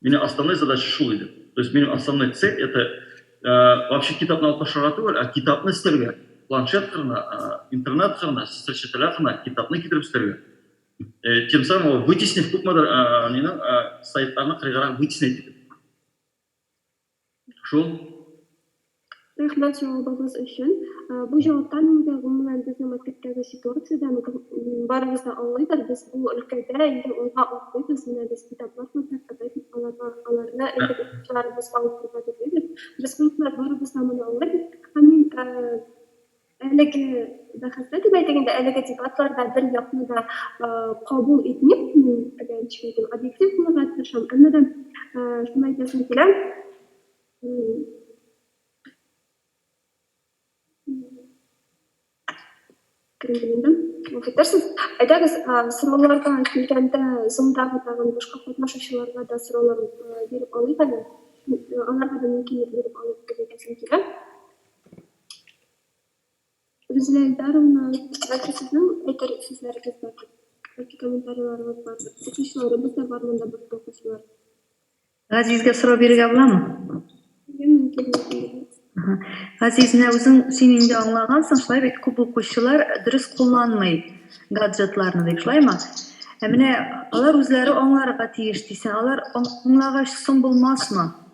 Минем основной задача шул иде. То есть минем основной цель это вообще китапны алып ташларга түгел, а китапны эстәргә. Планшет кырына, интернет кырына, сочетеля кырына китапны китереп эстәргә. Тем самым вытеснив күпмедер нинең сайтларны кырыйгарак вытеснять итеп. Шул. Рәхмәт җавабыгыз өчен. Бу җаваптан инде гомумән безнең мәктәптәге ситуациядән барыбыз да аңлыйбыз, без бу өлкәдә инде уңга атлыйбыз, менә без китаплар күрдек, Кытай китаплары, аларны инде укучыларыбызга укырга телибез, без халыклар барыбыз да моны аңлыйбыз. Һәм мин Әлеге бәхәстә дип әйтик, инде әлеге дебатларда бер якны да кабул итмим мин, әгәр чөнки объектив булырга тырышам. Әмма да шуны әйтәсем килә. Кремлендә. Фикерсез. Әйдәгез, сорауларга килгәндә, зондагы тагын башка катнашучыларга да сораулар биреп алыйк әле. Аларга да мөмкинлек биреп алыйк дип әйтәсем килә. Рузилә Илдаровна, бәлки сезнең әйтер сүзләрегез бардыр, бәлки комментарийларыгыз бардыр? Укучыларыбыз да бар монда безнең укучылар. Газизгә сорау бирергә буламы? Бирергә мөмкин микән? Аһа. Газиз, менә үзең син инде аңлагансың, шулай бит күп укучылар дөрес кулланмый гаджетларны дип, шулаймы? Ә менә алар үзләре аңларга тиеш дисең, алар аң- аңлагач соң булмасмы?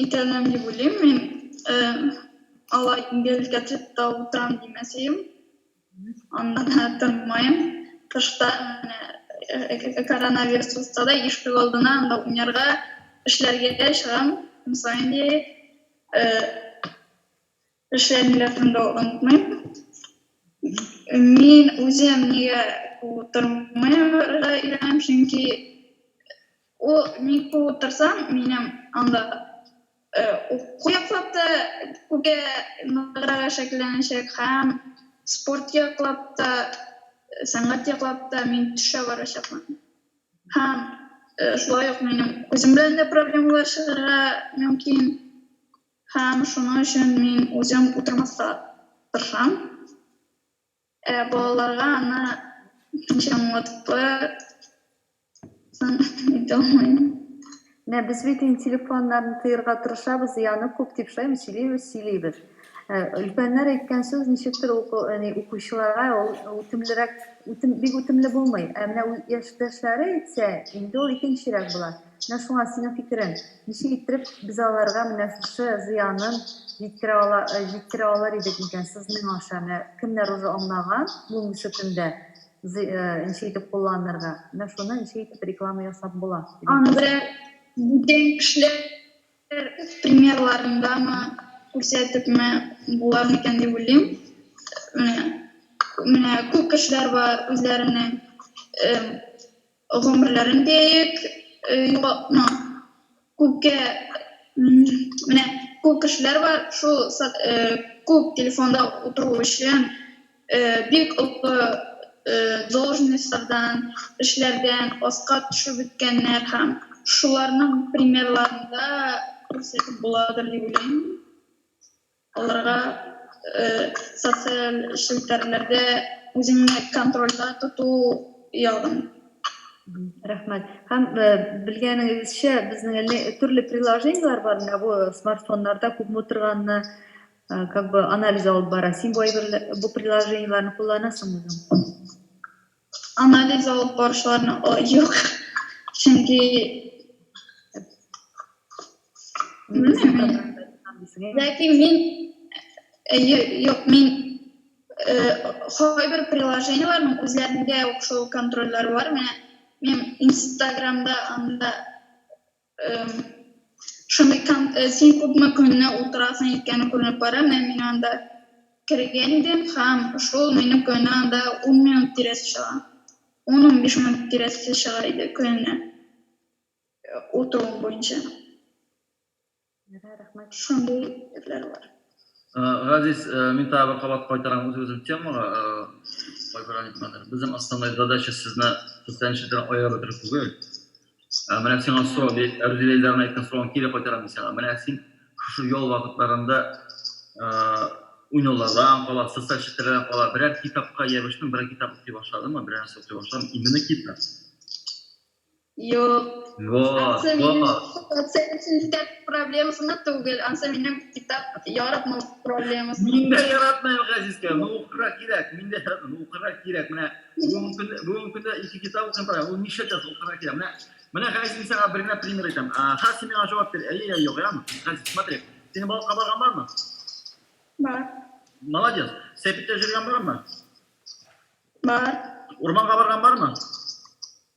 Итәләм дип уйлыйм мин. Э, алай гел гаджетта утырам димәсәем. Аннан да тынмаем. Кышта менә э, э, коронавирус булса да ишек алдына анда уйнарга, эшләргә чыгам. Көн саен диярлек. Э, Эшләр милләтен дә онытмыйм. Мин үзем нигә утырмый барырга өйрәнәм, чөнки ул ник утырсам, минем анда уку яклап та күпкә ныграк шәкелләнәчәк һәм спорт яклап та, сәнгать яклап та мин төшә барачакмын. Һәм шулай ук минем күзем белән дә проблемалар чыгарга мөмкин. Һәм шуның өчен мин үзем утырмаска тырышам. Ә балаларга аны ничек аңлатып соң әйтә алмыйм. Менә без бит инде телефоннарны тыерга тырышабыз, зыяны күп дип шулаймы сөйлибез, сөйлибез. Өлкәннәр әйткән сүз ничектер укучыларга ул үтемлерәк, бик үтемле булмый. Ә менә яшьтәшләре әйтсә, инде ул икенчерәк була. Менә шуңа, синең фикерең, ничек иттереп без аларга менә шушы зыянын җиткерә ала, җиткерә алыр идек микән? Сызның аша, менә кемнәр уже аңлаган бүгенге көндә зы, ничек итеп кулланырга, менә шуны ничек итеп реклама ясап була? Аны берәр бүтән кешеләр примерларындамы, күрсәтепме булыр микән дип уйлыйм. Менә, менә күп кешеләр бар, үзләренең, Гомерләрен бик югалтма. Күпкә менә күп кешеләр бар, шул күп телефонда утыру өчен бик олы должностьлардан, эшләрдән аска төшеп беткәннәр һәм шуларның примерларын да күрсәтеп буладыр дип уйлыйм. Аларга социаль челтәрләрдә үзеңне контрольдә тоту ягын. Рәхмәт. Һәм белгәнегезчә, безнең әле төрле приложениеләр бар, менә бу смартфоннарда күпме утырганны как бы анализ алып бара. Син бу әйберләр, бу приложениеләрне кулланасыңмы? Анализ алып баручыларны юк. Чөнки Ләкин мин юк, мин кайбер приложениеләрнең үзләрендә үк шул контрольләр бар. Менә мин Инстаграмда анда Шундый там, э, син күпме көнне утырасың икән күренеп бара, менә мин анда кергән идем һәм шул минем көнне анда 10 минут тирәсе чыга. 10-15 минут тирәсе чыга иде көненә. Э, Утыруым буенча. Ярый, рәхмәт. Шундый ирләр бар. Газиз, мин тагы бер кабат кайтарам үзебезнең темага, кайбер әйтмәдер. Безнең основной задача сезне социаль челтәрдән аерып бетерү түгел. Менә сиңа сорау, Рүзилә Илдарның әйткән соравын кире кайтарам мин сиңа. Менә син шушы ял вакытларында уйнаулардан кала, социаль челтәрләрдән кала берәр китапка ябыштың, берәр китап укый башладыңмы, берәр нәрсә укый башладыңмы? Именно китап. Юк. Вау, вау. Сән өчен китап проблемасына түгел, ансы минем китап яратмау проблемасы. Мин дә яратмыйм, Газизкә. Ну, укырга кирәк. Мин дә яратмыйм. Ну, укырга кирәк. Менә бүген көн, бүген көндә ике китап укыйм, пара. Ул ничә час укырга кирәк? Менә, менә Газиз, мин сиңа бер генә пример әйтәм. Хәзер син миңа җавап бир. Әйе я юк, яме? Газиз, смотри. Синең балыкка барган бармы? Бар. Молодец. Сәпиттә җөргән бармы? Бар. Урманга барган бармы?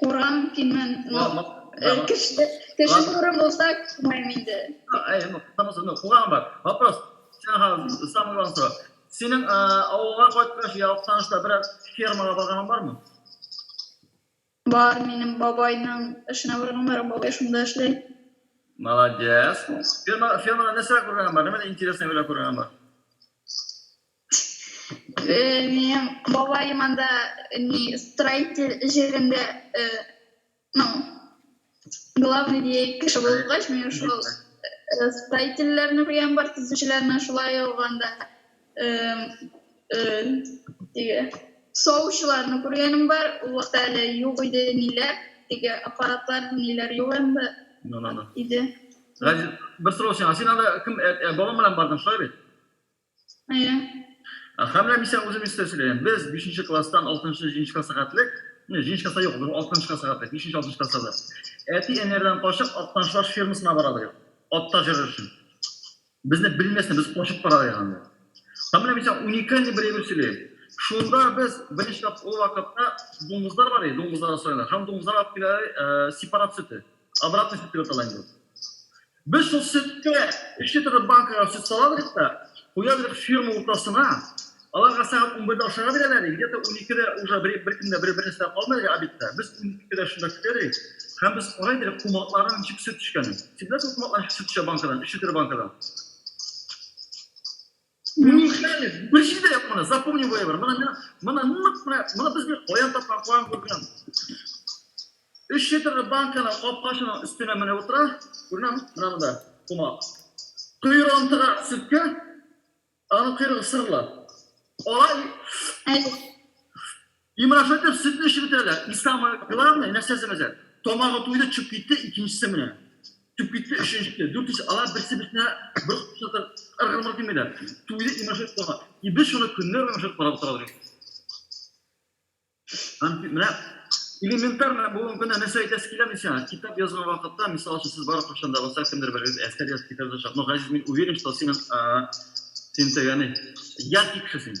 Урам димән, ну, Ма- ма- э, ма- кеше, кеше ма- туры булса, күрмәйм инде. А, ай, ну, потому что, ну, куган бар. Вопрос. Сен хәзер самый главный сорау. Синең э, авылга кайткач, я Актанышта берәр фермага барганың бармы? Бар, минем бабайның эшенә барган бар, бабай шунда эшли. Молодец. Ферма, фермада нәрсә күргәнең бар? Нәмәдә интересный белән күргәнең бар? Э, минем бабаем анда не строитель җирендә, э, ну, главный дияй кеше булгач, мин шул э, строительләрне күргән бар, төзүчеләрне шулай ук анда э, э, теге савучыларны күргәнем бар. Ул вакытта әле юк иде ниләр, теге аппаратлар ниләр юк инде Ну, ну, ну. иде. Газиз, бер сорау сиңа. Син анда кем, э, э, бабаң белән бардың, шулай бит? Әйе. Һәм менә мин сиңа үзем истә сөйләйм. Без 5нче класстан 6нчы, 7нче класска хәтлек, не, 7нче класста юк, 6нчы класска хәтлек, 5нче, 6нчы класста да. Әти-әниләрдән качып Актаншлаш фермасына бара идек. Ат та җөрер өчен. Безне белмәсен, без качып бара идек анда. Һәм менә мин сиңа уникальный бер әйбер сөйләйм. Шунда без беренче тап ул вакытта дуңгызлар бар иде, дуңгызлар асрыйлар. Һәм дуңгызлар алып килә сепарат сөте. Обратный сөт дип атала инде ул. Без шул сөткә эчке торып банкага сөт салабрык та, куябрык ферма уртасына. Аларга сәгать унбердә ашарга бирәләр, где-то уникедә уже бер беркем дә бер бернәрсә дә калмый әле обедта. Без уникедә шунда көтәбрык һәм без карайбрык кумакларның ничек сөт эчкәнен. Син беләсеңме кумаклар ничек сөт эчә банкадан, эчке төр банкадан? Неужели? Бер җирдә юк моны, запомни выбор. Моны мына, моны нык менә, моны без бит каян тапкан, каян күргән. Өч литрлы банканы капкачының өстенә менә утыра, күренәме? Менә монда, кума. Койрыгын тыга сөткә, аның койрыгы сырлы. Ала и... Имрафетов сөтне эчеп бетерә дә, и самое главное, нәрсәсе мәзәк? Тамагы туйды, төшеп китте, икенчесе менә. Төшеп китте, өченчесе, дүртенчесе, алар берсе-берсенә бер кочакта ыргылмыр димиләр. Туйды Имрафетов тамагы. И без шуны көннәр буе ашап карап утырабыз икән. Һәм менә элементар менә бүгенге көндә нәрсә әйтәсе киләме сиңа? Китап язган вакытта, мисал өчен, сез барып кайчан да булса кемдер берегез әсәр язып, китап язачак. Но, Газиз, мин уверен, что синең, син тегәне, я тикше син.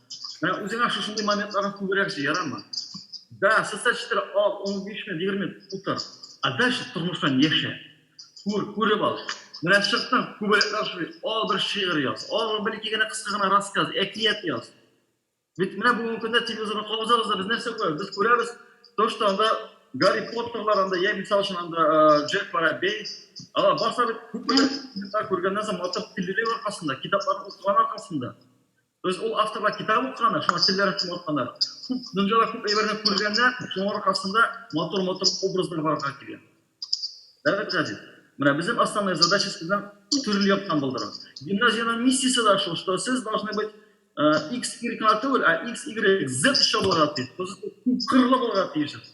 Менә үзеңә шушындый моментларны күбрәк җый, ярамы? Да, социаль челтәр ал, 15 минут, 20 минут утыр. А дальше тормыштан яшә. Күр, күреп ал. Менә чыктың, күбәләкләр шуый, ал бер шигырь яз, ал бер ике генә кыска гына рассказ, әкият яз. Бит менә бүгенге көндә телевизорны кагызабыз да без нәрсә күрәбез? Без күрәбез, то, что анда Гарри Поттерлар анда, я мисал өчен анда Джек Воробей, алар барса бит күп күргәннән соң матур телевизор аркасында, китапларны укыган аркасында. То есть ул авторга китап укыганнар, шуңа телләр өчен атканнар. Күп дөнья да күп әйберне күргәннәр, шуның аркасында матур-матур образлар барырга килгән. Дәвит Газиз. Менә безнең основная задача сезнең төрле яктан булдыру. Гимназиянең миссиясе дә шул, что сез должны быть X, Y кына түгел, а X, Y, Z чабылырга тиеш. Күп кырлы булырга тиешсез.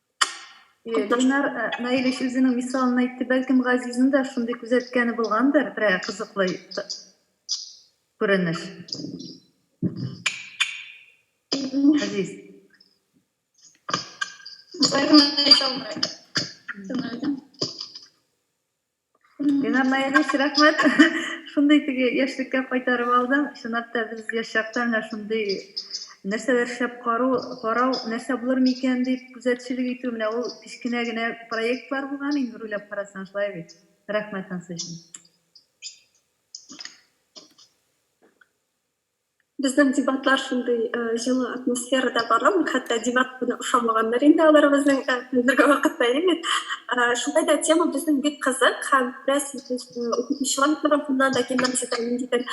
Гөлнар э, Наиль өч үзенең мисалын әйтте, бәлкем Газизның да шундый күзәткәне булгандыр, берәр кызыклы т- күренеш. Газиз. Бер генә әйтә алмыйм. Шуны әйтәм. Линар Наилевич, рәхмәт. Шундый теге яшьлеккә кайтарып алдың. Чынлап та без яшь чакта менә шундый нәрсәләр шәп кару, карау, нәрсә булыр микән дип күзәтчелек итү, менә ул кечкенә генә проектлар булган инде, бер уйлап карасаң, шулай бит. Рәхмәт ансы өчен. Безнең дебатлар шундый җылы атмосферада бара, хәтта дебат кына ошамаганнар инде алар безнең хәзерге вакытта, әйеме? Шулай да тема безнең бик кызык һәм бераз укытучылар тарафыннан да гимназиядә ниндидер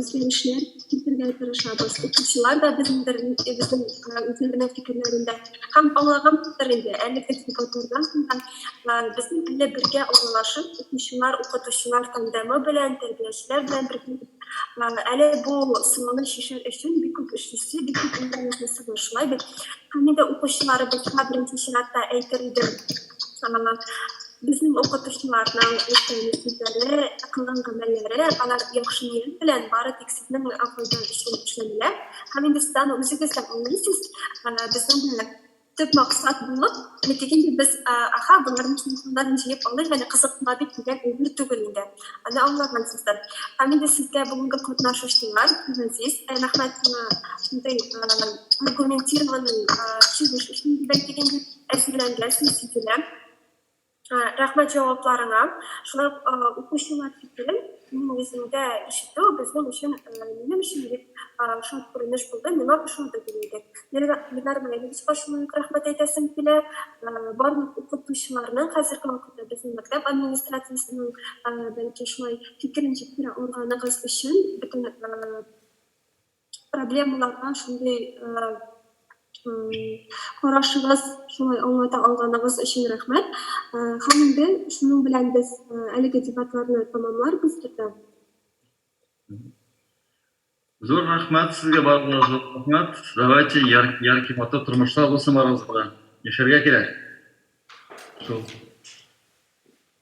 үзгәрешләр кертергә тырышабыз. Укучылар да безнеңдер безнең үзләренең фикерләрендә һәм аңлагандыр инде, әлеге дебатлардан соң да безнең әле бергә аралашып, укучылар, укытучылар тандемы белән, тәрбиячеләр белән бергә әле бу сорауны чишәр өчен бик күп эш эшли, бик күп интернетнысы бар. Шулай бит. Хәмидә дә укучыларыбызга беренче чиратта әйтер идем. Безнең укытучыларның эшләүле сүзләре, кылган гамәлләре, алар яхшы ният белән бары тик сезнең файда өчен эшләнелә. Һәм инде сез аны үзегез дә аңлыйсыз. Безнең дә төп максат булып, әле тик инде без, аха, боларның телефоннарын җыеп алыйк әле, кызыксына бит, дигән әйбер түгел инде. Аны аңлагансыздыр. Һәм инде сезгә бүгенге катнашучылар, газиз рәхмәт сиңа шундый аргументированный чыгыш өчен, дибән тик инде, әзерләнгәнсең, сизелә. Ә, Рәхмәт җавапларыңа. Шулай ук а, укучылар фикерен минем үзем дә ишетү безнең өчен, э, минем өчен бик а, шул күренеш булды, миңа кушылды дим идек. Лена- Ленар Наилевичка шулай ук рәхмәт әйтәсем килә. Э, Барлык укытучыларның хәзерге вакытта безнең мәктәп администрациясенең, э, бәлки шулай фикерен җиткерә алганыгыз өчен бөтен, э, проблемаларга шундый карашыгыз, шулай аңлата алганыгыз өчен рәхмәт. Һәм инде шуның белән без әлеге дебатларны тәмамларбыз төрдә. Зур рәхмәт сезгә барыгызга да зур рәхмәт. Давайте яркий матур тормышлар булсын барыгызга да. Яшәргә кирәк. Шул.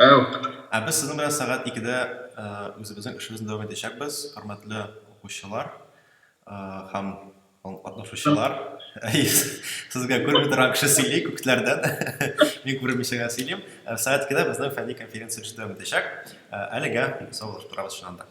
Әү. Ә без сезнең белән сәгать икедә үзебезнең эшебезне дәвам итәчәкбез, хөрмәтле укучылар һәм катнашучылар. Сезгә күрми торган кеше сөйли күкләрдән. Мин күрмичә генә сөйлим. Сәгать икедә безнең фәнни конференция эше дәвам итәчәк. Әлегә саубуллашып торабыз шуннан да.